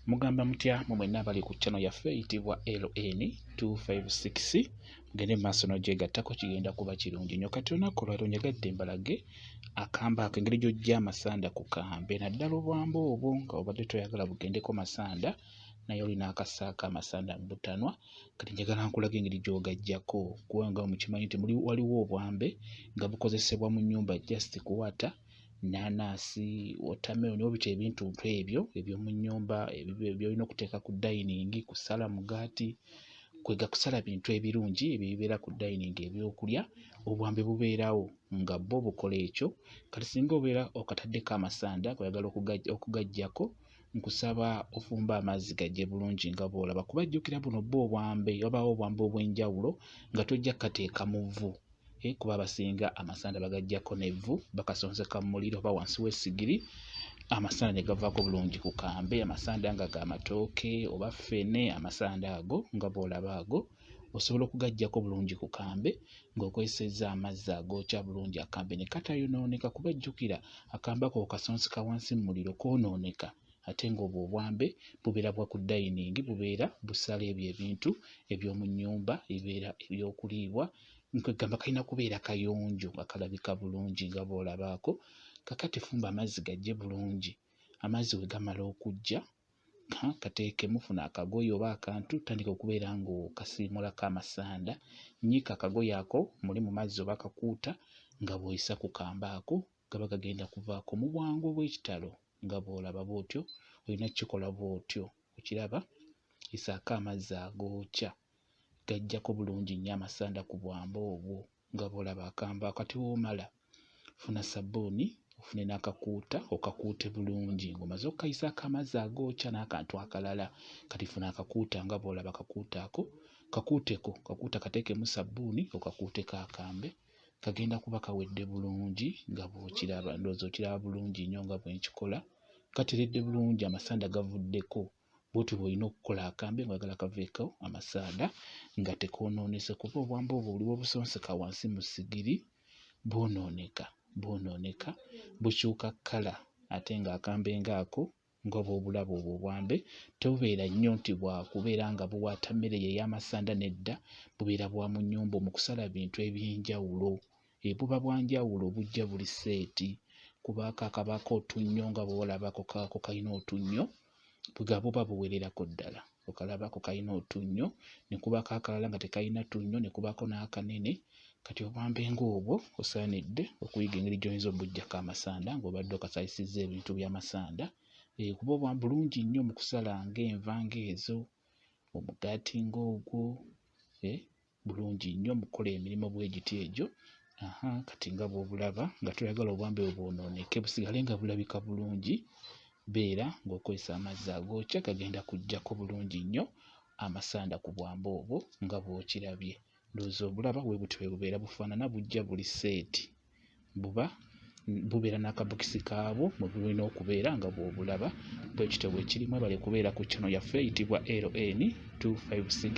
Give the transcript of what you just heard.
Mugamba mutya mu mwenna abali ku channel yaffe eyitibwa LN256 mugende mu maaso n'ogyegattako kigenda kuba kirungi nnyo kati olunaku olwaliro njagadde mbalage akambe ako engeri gy'oggya amasanda ku kambe naddala obwamba obwo nga obadde toyagala bugendeko masanda naye olina akasaako amasanda mu butanwa kati njagala nkulaga engeri gy'ogaggyako kubanga mukimanyi nti waliwo obwambe nga bukozesebwa mu nnyumba just kuwata ennaanansi wotameroni oba bita ebintuntu ebyo eby'omu nnyumba byolina okuteeka ku dayiningi kusala mugaati kwega kusala bintu ebirungi ebyo ebibeera ku dayiningi ebyokulya obwambe bubeerawo nga bo bukola ekyo kati singa obeera okataddeko amasanda kweyagala okugajjako nkusaba ofumba amazzi gajje bulungi nga bwolaba kuba jjukira buno bwo obwambe wabaawo obwambe obw'enjawulo nga tojja kukateeka mu vvu eh, kuba abasinga amasanda bagajjako nevvu bakasonseka mu muliro oba wansi w'essigiri amasanda ne gavaako bulungi ku kambe amasanda nga ga matooke oba ffene amasanda ago nga bw'olaba ago osobola okugaggyako bulungi ku kambe ng'okozesezza amazzi agookya bulungi akambe ne katayonooneka kuba jjukira akambe ako kasonseka wansi mu muliro koonooneka ate ng'obwo obwambe bubeera bwa ku dayiningi bubeera busala ebyo ebintu eby'omu nnyumba ebibeera eby'okuliibwa nkwegamba kalina kubeera kayonjo nga kalabika bulungi nga bwolabaako kakati fumba amazzi gajje bulungi amazzi we gamala okujja kateekemu funa akagoye oba akantu tandika okubeera ng'okasiimulako amasanda nyiika akagoye ako muli mu mazzi oba akakuuta nga bw'oyisa ku kamba ako gaba gagenda kuvaako mu bwangu obw'ekitalo nga bw'olaba bw'otyo olina kukikola bw'otyo okiraba isaako amazzi agookya gajjako bulungi nnyo amasanda ku bwamba obwo nga bw'olaba akambe ako ate w'omala funa sabbuuni ofune n'akakuuta okakuute bulungi ng'omaze okukayisaako amazzi agookya n'akantu akalala kati funa akakuuta nga bw'olaba akakuuta ako kakuuteko kakuuta kateekemu sabbuuni okakuuteko akambe kagenda kuba kawedde bulungi nga bw'okiraba ndowooza okiraba bulungi nnyo nga bwe nkikola kateredde bulungi amasanda gavuddeko Bwotyo bwolina okukola akambe nga oyagala kaveeko amasaada nga tekonoonese kuba obwambe obwo buli bwobusonseka wansi mu sigiri bwonooneka bwonooneka bukyuka kkala ate nga akambe nga ako nga bwobulaba obwo obwambe tebubeera nnyo nti bwakubeera nga buwaata mmere eyo ey'amasanda nedda bubeera bwa mu nnyumba omu kusala bintu eby'enjawulo ebuba bwa njawulo bujja buli seeti kuba ako akabaako otunnyo nga bw'olaba ako kaako kalina otunnyo nga buba buwererako ddala okalaba ako kalina otunnyo ne kubaako akalala nga tekalina tunnyo ne kubaako n'akanene kati obwambe ng'obwo osaanidde okuyiga engeri gy'oyinza obuggyako amasanda ng'obadde okasalisizza ebintu by'amasanda eh, kuba obwa bulungi nnyo mu kusala ng'enva ng'ezo omugaati ng'ogwo eh, bulungi nnyo mu kukola emirimu bwe giti egyo. Aha, kati nga bw'obulaba nga toyagala obwambe bwe bwonooneke busigale nga bulabika bulungi, beera ng'okozesa amazzi agookya gagenda kuggyako bulungi nnyo amasanda ku bwambe obwo nga bw'okirabye. Ndowooza obulaba bwe butyo bwe bubeera bufaanana bujja buli seeti. Buba bubeera n'akabokisi kaabwo mwe bulina okubeera nga bw'obulaba bwe kityo bwe kiri. Mwebale kubeera ku channel yaffe eyitibwa LN256.